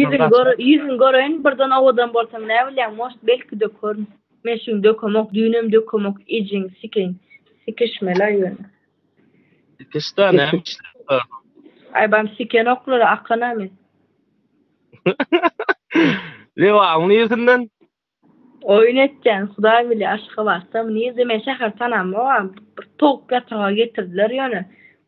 Ýüzüňi gör, ýüzüňi göreýin, birden owadan bolsaň näbilýäň, moşt belki-de körün. Men şuny dökemok, düýnem dökemok, ejiň sikeýin. Sikişmel-aý ýöne. Sikiş-dä, näme işleň bar? Aýbam sikenoklar, akan-a men. Lebapyň niresinden? Oýun etýän hudaý bilýä Aşgabatda muny diýmeli şäher tanamogam bir towuk ýataga getirdiler ýöne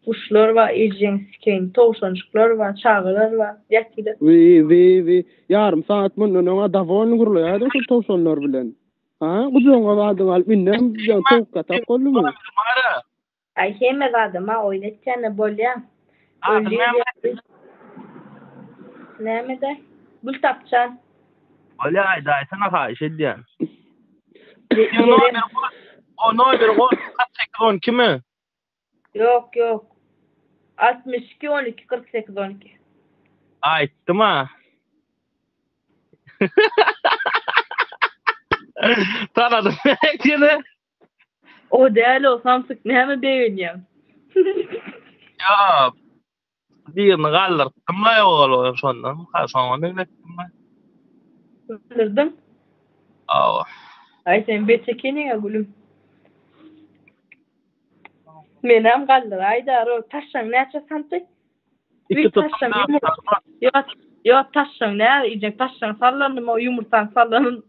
guşlar bar ejeňsikeýin towşanjyklar bar çagalar bar ýatylar. Wiwiwi ýarym sagat mundan öňa dawony gurlaýadyň şul towşanlar bilen ha gujagyňa badyňy alyp indem towuk ýatak boldumy. Aý hemme zadam-a oýun etýände bolýa. Adyň näme? Näme-de? Gültapjan. Bolýa aýdaýsaňa haýyş edýän. Seň nomeriň goş. O nomeriň goş kyrk sekiz on ikimi? Ýok, ýok. Altmyş iki on iki kyrk sekiz on iki. Aýtdym-a. Tanadym nätdi ýene. O däl-ow samsyk näme begenýäň. Ýok. Birini galdyrypdym-la ýogaly şondan. Hä şoňa meňzetdim-le. Galdyrdyň? Hawa. Aý sen beç ekeniň-ä gülüm. Menem galdyraýda-row. Taşlaň näçe santy? Iki taşşaň ýumurtga. Ýok, taşşaň näme iýjek? Taşşaň sallandy o ýumurtgaň sallanyn.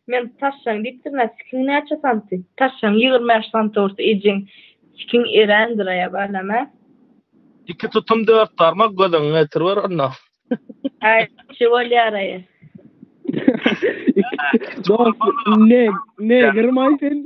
Men taşşaň diýipdirin, a sikiň näçe santy? Taşşaň ýigrimi bäş santy bolsa ejeň sikiň erändir a ýa-da näme? Iki tutum dört barmak gözüňi getiriber onda. Häý, şi bolýar-a. Dost, ne, ne girmaý sen?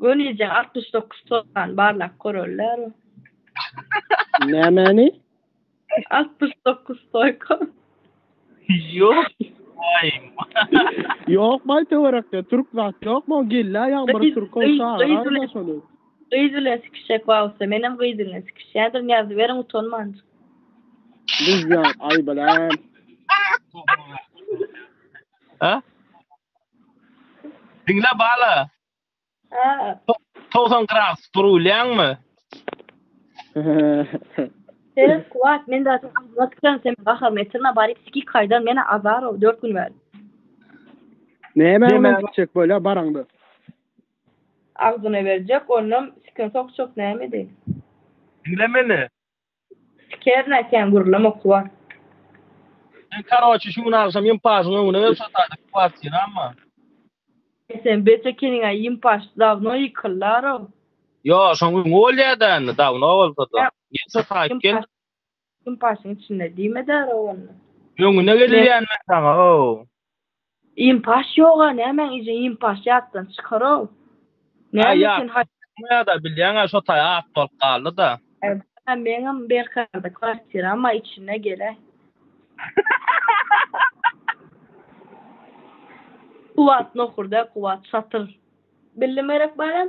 Gönije altmyş dokuz tozan barlap görerler. Nämäni? Altmyş dokuz toýka. Ýok. Ýok baý töwerekde türk zat ýokmy o gella ýaň bir türk ol çagyraýda şony. Gyz bilen sikişjek wagtda menem gyz bilen sikişýändirin ýazyberiň utanmanjyk. Gyz ýaň aý bilen. Ha? Diňle bala. Ha. Togsan gradus durulýaňmy? Sen kuwat men zaten agzyma tükürem sen gaharymy etirme baryp sikik haýdan men azarow dört gün bäri. Näme bilen gitjek bolýa baraňda? Agzyna berjek onam sikin sokjak näme edeyim. Diňle meni. Siker nätýäň gürlem okuwa. Sen karoçi şu gün agşam ýympaşyň öňüne gel şo taýda kwartiramma. Eý sen beş ekeniňä ýympaş dawno ýykyldarow. Ýok şoň öňi bolýada indi dawno bolsada. Gel şo taýyp gel. Ýympaşyň içinde diýmedarow onda. Öňüne gel diýýän men saňa ow. Impaş ýoga nämäň ije impaş ýatdan çykarow. Näme üçin haý. Ýada bilýäňä şo taý at bolup galdyda. Hä meňem Berkarda kwartira amma içine geläý. Kuwat nohur däl kuwat satyr. Bildim gerek balam.